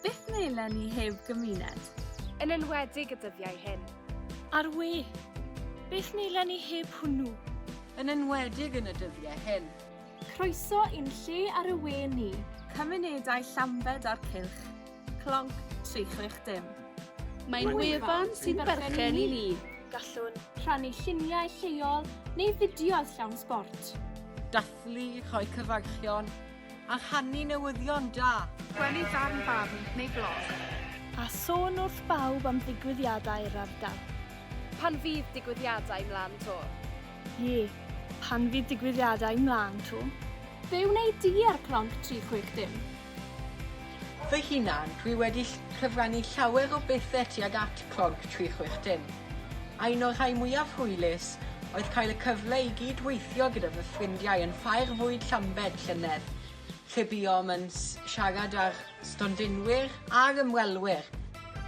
Beth melen ni heb gymuned? Yn enwedig y dyddiau hyn. Ar we, beth melen ni heb hwnnw? Yn enwedig yn y dyddiau hyn. Croeso i'n lle ar y we ni. Cymunedau Llambed a'r Cylch. Clonc 360. Mae'n wefan sy'n berchen i ni. Gallwn rhannu lluniau lleol neu fideos llawn sbort. Dathlu, rhoi cyfarchion A rhannu newyddion da. Gwely farn barn neu blog. A sôn wrth bawb am ddigwyddiadau'r ardal. Pan fydd digwyddiadau mlan to? Ie, pan fydd digwyddiadau mlan to. Be wneud di ar Clonc 360? Fy hunan, dwi wedi cyfrannu llawer o bethe tuag at Clog 360. A un o'r rhai mwyaf hwylus oedd cael y cyfle i gyd weithio gyda fy ffrindiau yn Ffair Fwyd Llambed llynedd, lle buom yn siarad â'r stondinwyr a'r ymwelwyr.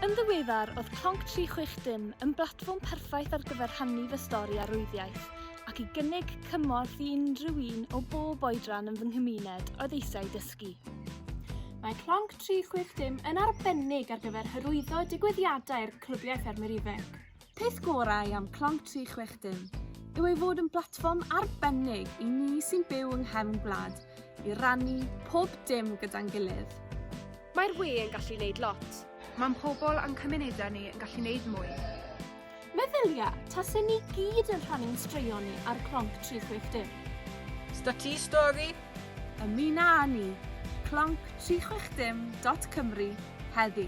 Yn ddiweddar, oedd Clog 360 yn blatfform perffaith ar gyfer rhannu fy stori a rwyddiaith, ac i gynnig cymorth i unrhyw un o bob oedran yn fy nghymuned oedd eisiau dysgu. dysgu. Mae Clonc 360 yn arbennig ar gyfer hyrwyddo digwyddiadau'r Clybiau Ffermwyr Ifanc. Peth gorau am Clonc 360 yw ei fod yn blatfform arbennig i ni sy'n byw yng nghefn gwlad i rannu pob dim gyda'n gilydd. Mae'r we yn gallu wneud lot. Mae'n pobl a'n cymunedau ni yn gallu wneud mwy. Meddylia, tase ni gyd yn rhannu'n straeon ni ar Clonc 360. Stati stori? Ymuno â ni, Clonc 360 dot Cymru, heddi.